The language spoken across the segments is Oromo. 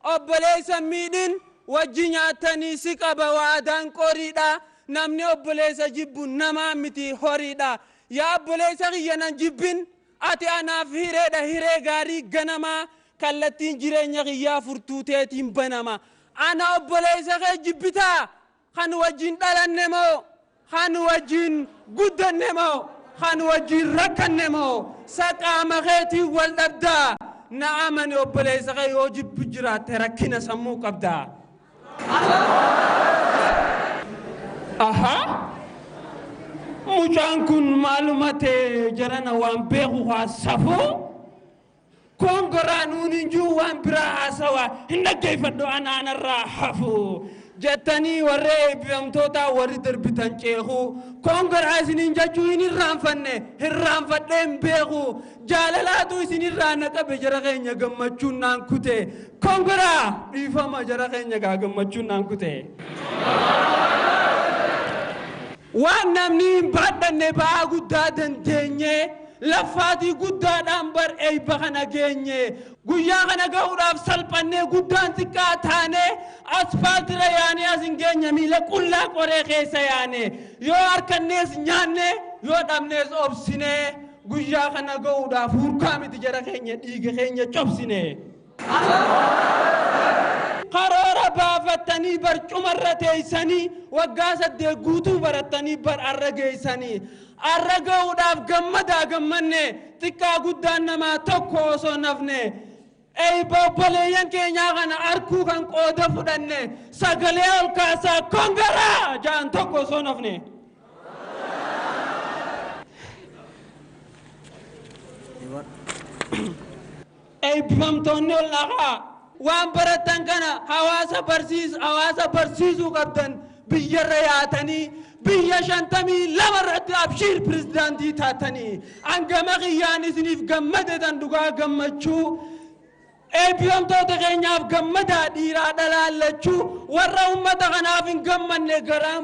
Obboleessa hin miidhin wajji nyaattanii si qaba waadaan qoriidha namni obboleessa jibbu namaa miti horiidha yaa obboleessa kiyya nan jibbin ati anaaf hireedha hiree gaarii ganamaa kallattiin jireenya kiyyaa furtuu teetiin banama ana obboleessa kee jibbitaa Kan wajjin dhalanne moo? Kan wajjin guddanne moo? Kan wajjin rakkanne moo? Sa qaama keetiin wal dhabdaa? Na amani obboleessa kee yoo jibbu jiraatte rakkina sammuu qabda. Ahaa! Mucaan kun maaluma ta'e jarana waan beeku kaa safuu? Koongoraa nuun hin jiru waan biraa haasawaa hin dhaggeeffadhu anaa narraa hafu jettanii warri eebbifamtootaa warri darbitan ceeku. Koongoraa isiniin jechuu hin irraanfanne irraanfadhee hin beeku. Jaalalaatu isin irraa na qabe jara keenya gammachuun naan kute. Koongoraa! Dhiifama jara keenya gaa gammachuun naan kute. Waan namnii hin baadhanne ba'aa guddaa dandeenyee, laffaatii guddaadhaan bar eebba kana geenye. Guyyaa kana gahuudhaaf salphannee guddaan xiqqaa taanee, asfaaltirra yaanee as hin geenye miila qullaa qoree keessa yaane. Yoo arkannees nyaanne, yoo dhabnees obsine. Guyyaa kana gahuudhaaf hurkaa miti jara keenya dhiiga keenya cobsine. Karoora baafattanii barcumarra teessanii waggaa saddeet guutuu barattanii bar arra geessanii. Arra ga'uudhaaf gammadaa gammanne xiqqaa guddaan namaa tokko osoo hin hafne. Eebba obboleeyyan keenyaa kana arkuu kan qooda fudhanne sagalee ol kaasaa kongaraa ja'an tokko osoo hin hafne. Eebbifamtoonni ol dhaqaa! Waan barattan kana hawaasa barsiis hawaasa barsiisuu qabdan biyyarra yaatanii biyya 52 irratti abshiir pirezidaantii taatanii an gama kiyyaan isiniif gammadetan dhugaa gammachuu eebbifamtoota keenyaaf gammadaa dhiiraa dhalaa lachuu warra ummata kanaaf hin gammanne garaan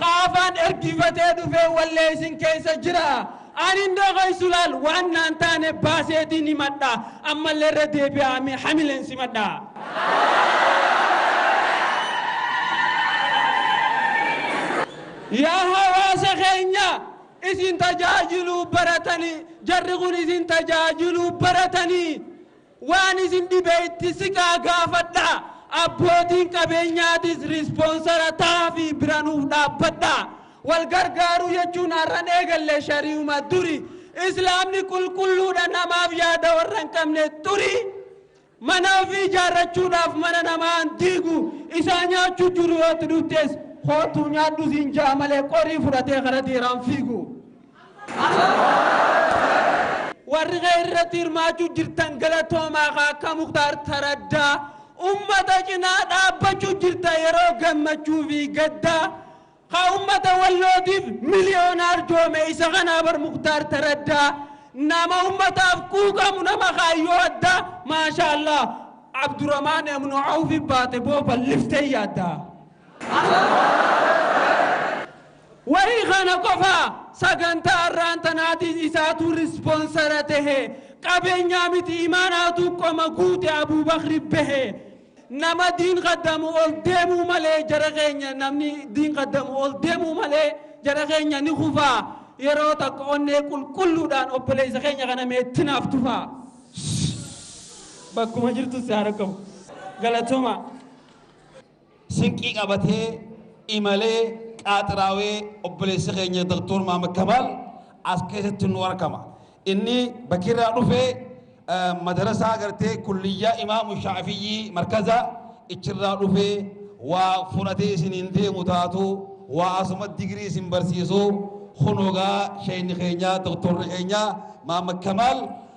Ka afaan ergifatee dhufee wallee isin keessa jira. Ani hin dhokoysu laal waan naan taane baaseetiin himadha. Ammallee irra deebi'aa mee hamileen simadha. Yaa hawaasa keenya isin tajaajiluu baratanii jarri kun isin tajaajiluu baratanii. Waan isin dhibe itti siqaa gaafadhaa, abbootiin qabeenyaatis rispoonsara ta'aafii bira nuuf dhaabbadhaa. Wal gargaaruu jechuun har'an eegalle shari'uma duri. Islaamni qulqulluudha namaaf yaada warra hin qabne xurii. Mana ofii ijaarrachuudhaaf mana namaa hin diigu, isaa nyaachuu jiru yoo itti dhuftes kootuu nyaadhu siin ja'a malee qorii fudhatee kara dhiiraa hin fiigu. Warri kee irratti hirmaachuu jirtan galatoomaa kaa akka muktaar taraddaa ummata cinaa dhaabbachuu jirta yeroo gammachuu fi gaddaa kaa ummata wallootiif miliyoona arjoome isa kanaa bar muktaar taraddaa nama ummataaf quuqamu nama kaayyoo addaa maashaallah abduramaan ibnu awfi baate boo balliftee yaaddaa. Wahi kana qofa saganta arraan tanaatis isaatu responsara tehe qabenyaa miti imaanaatu qoma guute abubakri behe nama diin kaddamu ol deemuu male jara keenya namni diin kaddamu ol deemuu male jara keenya ni kufa yeroo takka onnee qulqulluudhaan obboleessa keenya kana mee itti naaf tufaa bakkuma jirtu si haa dhaqqabu galatoomaa. Sinqii qabatee imalee qaaxiraawee obboleessi keenya Doktoor Maamad Kamaal as keessatti nu argama. Inni bakirraa dhufe madarasaa gartee kulliyyaa Imaamu Shaafiyyii markaza ichirraa dhufe waa fudhatee isiniin deemu taatu waa asuma digirii isin barsiisu kunoogaa sheeyni keenya doktorri keenya Maamad Kamaal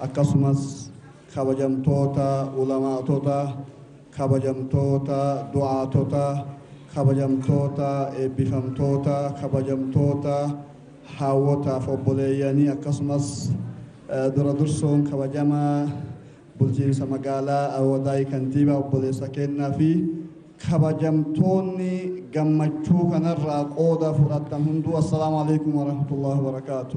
akkasumas kabajamtoota ulamaa'tota, kabajamtoota du'aatota, kabajamtoota eebbifamtoota, kabajamtoota haawwotaa fi obboleeyyanii akkasumas dura dursuun kabajamaa bulchiinsa magaalaa Awadaay Kantiibaa obboleessa keennaa fi kabajamtoonni gammachuu kanarraa qooda fudhattan hunduu assalaamu alaikum warahmatullahi wabarakaatu.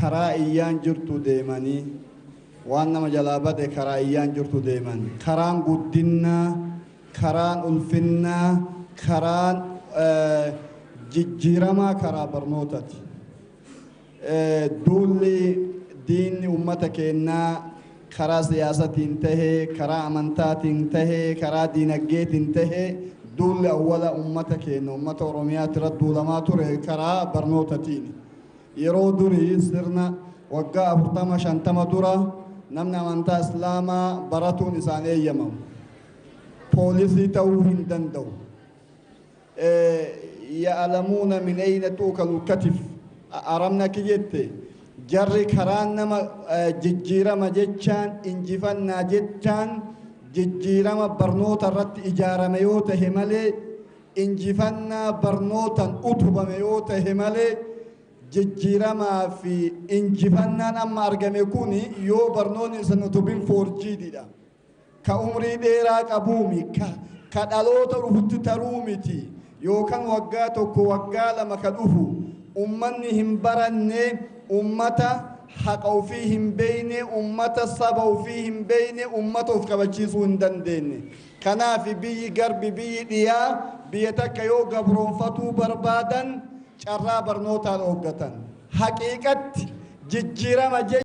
karaa iyyaan jirtu deemanii waan nama jalaa bade karaa iyyaan jirtu deeman karaan guddinnaa karaan ulfinnaa karaan jijjiiramaa karaa barnootati duulli diinni ummata keennaa karaa siyaasatiin tahee karaa amantaatiin tahee karaa diinaggeetiin tahee duulli awwala ummata keenna ummata oromiyaatira duulamaa ture karaa barnootatiini Yeroo durii sirna waggaa 40, 50 dura namni amantaa Islaamaa baratuun isaan eeyyamamu. Poolisii ta'uu hin danda'u. Ya'alamuuna min ayna tu'kalul katif. Arabni akki jette jarri karaan nama jijjiirama jechaan injifannaa jechaan jijjiirama barnoota irratti ijaarame yoo tahe malee injifannaa barnootan utubame yoo tahe malee jijjiiramaa fi injifannaan amma argame kun yoo barnoonni isan utubin foorjiididha. Ka umrii dheeraa qabuumi, ka, ka dhaloota dhufutti taruu miti, yookan waggaa tokko waggaa lama ka dhufu ummanni hin baranne ummata haqa ofii hin beeyne, ummata saba ofii hin beeyne, ummata of kabachiisuu hin dandeenye. Kanaafi biyyi garbi, biyyi dhiyaa, biyya takka yoo gabroomfatuu barbaadan carraa barnootaan ooggatan. Haqiiqatti jijjiirama jechuun.